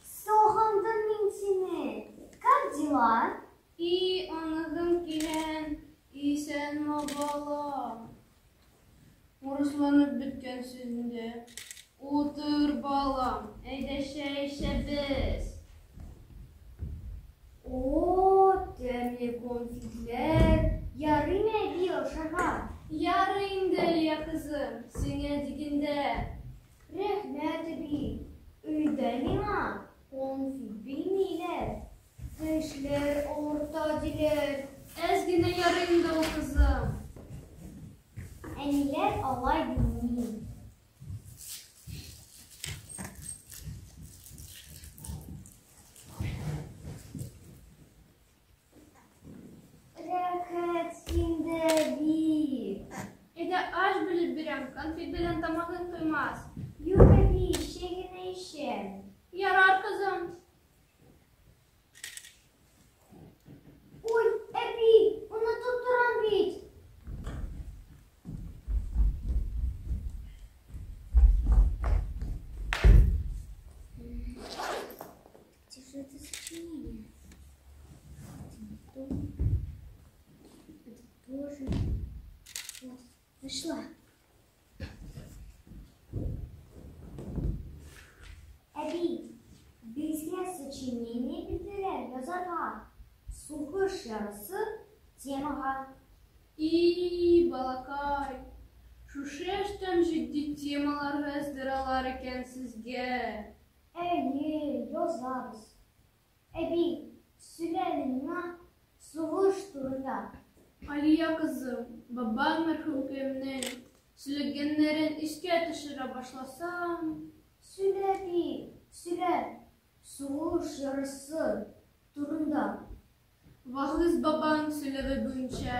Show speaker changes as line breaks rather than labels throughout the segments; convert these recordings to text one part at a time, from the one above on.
Сагындым мин сине. Как дела? И аныгым килен, исән балам. Урысланып беткән сүзендә. Утыр балам, әйдә чәй эчәбез. О, тәмле конфетләр. Ярыймы әби ашарга? Ярый инде, Лия кызым, сиңа дигәндә. Рәхмәт, әби. Өйдә миңа конфет бирмиләр. Тешләр авырта диләр. Әз генә ярый инде ул, кызым. Әниләр алай дими. Рәхәт синдә бик. Әйдә аш бүлеп бирәм, конфет белән тамагың туймас. Юк, әби, чәй генә эчәм. Ярар, кызым. Ой, әби, онытып торам бит. Нашла. Әби, безгә сочинение бирделәр язарга. Сугыш ярысы темага. И, балакай, шушы яшьтән җитди темаларга әздералар икән сезгә. Әйе, язабыз. Әби, сөйлә әле миңа сугыш турында. Алия кызым, бабаң мәрхүмкәемнең сөйләгәннәрен искә төшерә башласаң. Сөйлә, әби, сөйлә, сугыш ярасы турында. Вагыйз бабаң сөйләве буенча,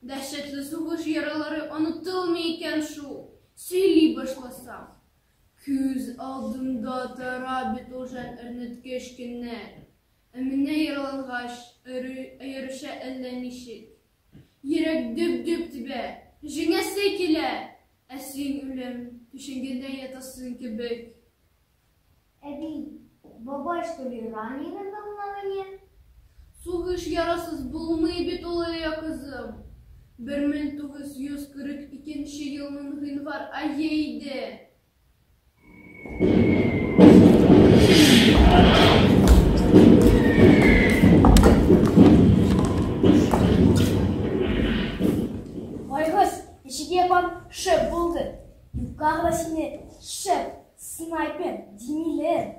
дәһшәтле сугыш яралары онытылмый икән шул, сөйли башласаң. Күз алдымда тора бит ул жән әрнеткеч көннәр. Ә менә яралангач, аеруча әллә ничек. Йөрәк дөп-дөп тибә, җиңәсе килә, ә син, үлем, түшәгендә ятасың кебек. Әби, бабай, что ли, раненый был на войне? Сугыш ярасыз булмый бит ул, Лилия кызым. Бер мең тугыз йөз кырык икенче елның гыйнвар ае иде. Байгыз, ишек япам шып булды. Юкка гына сине шып Снайпер, димилер.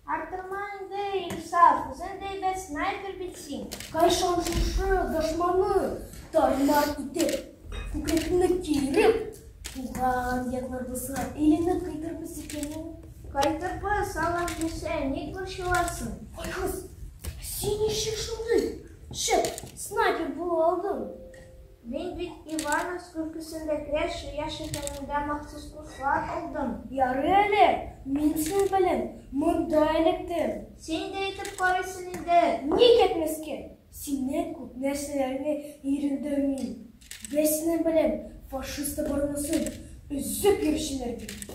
Артыма инде Илсаф, үзен дәйбәт снайпер бит син. Кайшан шушы дошманы тармар итеп, күкрәкне киереп, туган якларыбызга илемне кайтырбыз икәнен. Кайтырбыз, алам дисә, ник борчыласың? Айгыз, син ничек шундый шәп снайпер була алдың? Мин бит Ивановск өлкәсендә Крәш яшь өлкәнендә махсус курслар алдым. Ярый әле, мин син белән монда эләктем. Син дә итеп карыйсын инде. Ник әйтмәскә? Синнән күп нәрсәләрне өйрәндем мин. Без синең белән фашист оборонасын өзеп йөрүчеләр бит.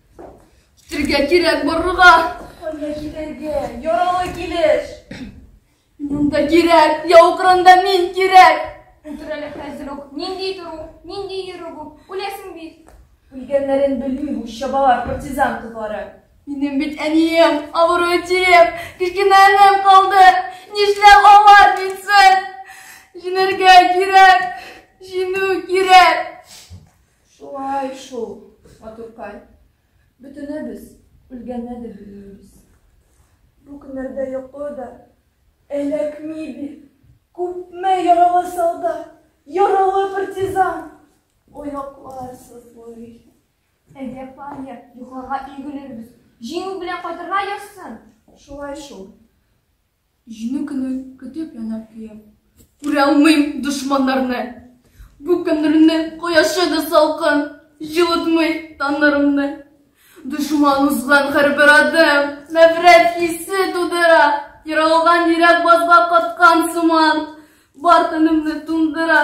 Китергә кирәк барырга. Кайда китергә? Яралы килеш. Монда кирәк, яу кырында мин кирәк. Утыр әле хәзер үк. Нинди тору, нинди йөрү бу? Үләсең бит. Үлгәннәрен белми бу чабалар партизан кызлары. Минем бит әнием, авыру әтием, кечкенә энем калды. Нишләп алар битсен? Җинергә кирәк, җинү кирәк. Шулай шул, матуркай. Бөтенебез үлгәнне дә белмибез. Бу көннәрдә йоклы да эләкми бит. Күпме яралы солдат, яралы партизан. Ояклар сызлый. Әйдә, паня, йокларга игелербез. Җиңү белән кайтырга язсын. Шулай шул. Җиңү көнен көтеп янар көем. Күралмыйм дошманнарны. Бу көннрне кояшы да салкын, җылытмый таннарымны. Дошман узган һәрбер адым нәфрәт хисе тудыра, ерылган йөрәк базга каткан сыман, бар тәнемне туңдыра.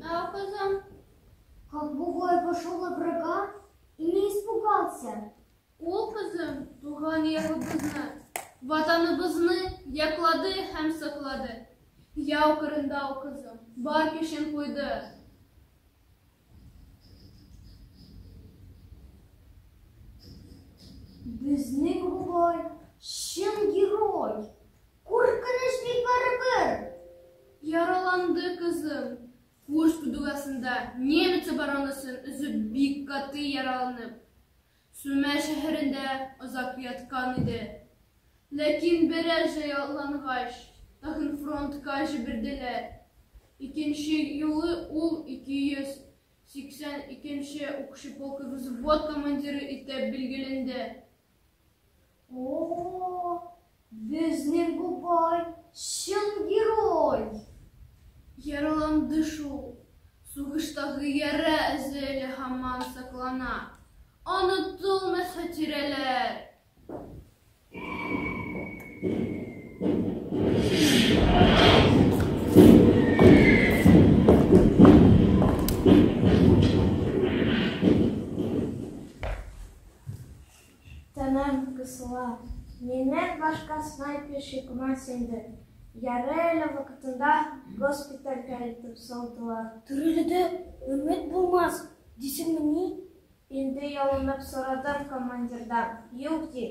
Да, кызым. Как бугай пошел на врага и не испугался. Ул кызым туган ягыбызны, ватаныбызны яклады һәм саклады. Яу кырында ул кызым бар көчен куйды. Безнең бугай чын герой. Куркыныч бик барыбер! Яраланды кызым. Курск дугасында немец оборонасын өзеп бик каты яраланып, Сүмә шәһәрендә озак яткан иде. Ләкин бераз җайлангач, тагын фронтка җибәрделәр. Икенче юлы ул 282 нче укчы полкы взвод командиры итеп билгеләнде. О, безнең бу бай чын герой! Яраланды шул. Сугыштагы яра эзе әле һаман саклана. Онытылмас хатирәләр! Тәмам кысыла. Миннән башка снайпер чыкмас инде. Ярый әле вакытында госпитальгә илтеп салдылар. Терелүдә өмет булмас, дисеңмени? Инде ялынып сорадым командирдан. Юк, ди.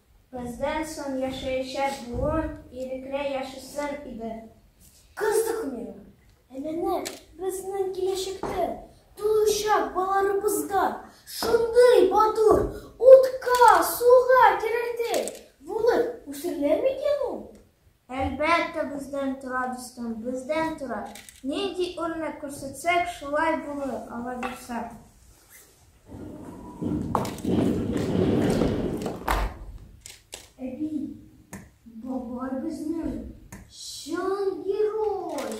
Бездән соң яшәячәк буын ирекле яшәсен иде. Кыздык миңа. Ә менә безнең киләчәктә туучак баларыбызга шундый матур утка, суга керердәй булып үсерләр микән ул? Әлбәттә, бездән тора, дустым, бездән тора. Нинди үрнәк күрсәтсәк, шулай булыр, алай булса. Әби, бабай безнең чын герой.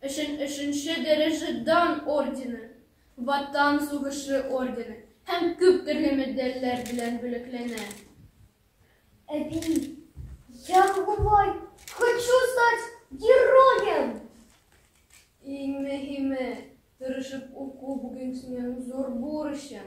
өчен өченче дәрәҗә Дан ордены, Ватан сугышы ордены һәм күп төрле медальләр белән бүләкләнә. Әби, я бабай, хочу стать героем! Иң мөһиме, тырышып уку бүген синең зур бурычың.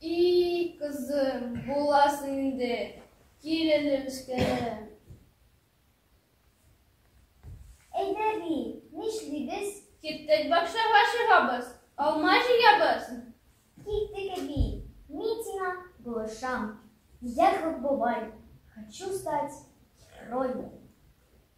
И-и, кызым, буласың инде, кил әле, мескенем. Әйдә ди, нишлибез? Киттек бакчага чыгабыз, алма җыябыз. Киттек әби, мин сиңа булышам. Я как бабай, хочу стать героем.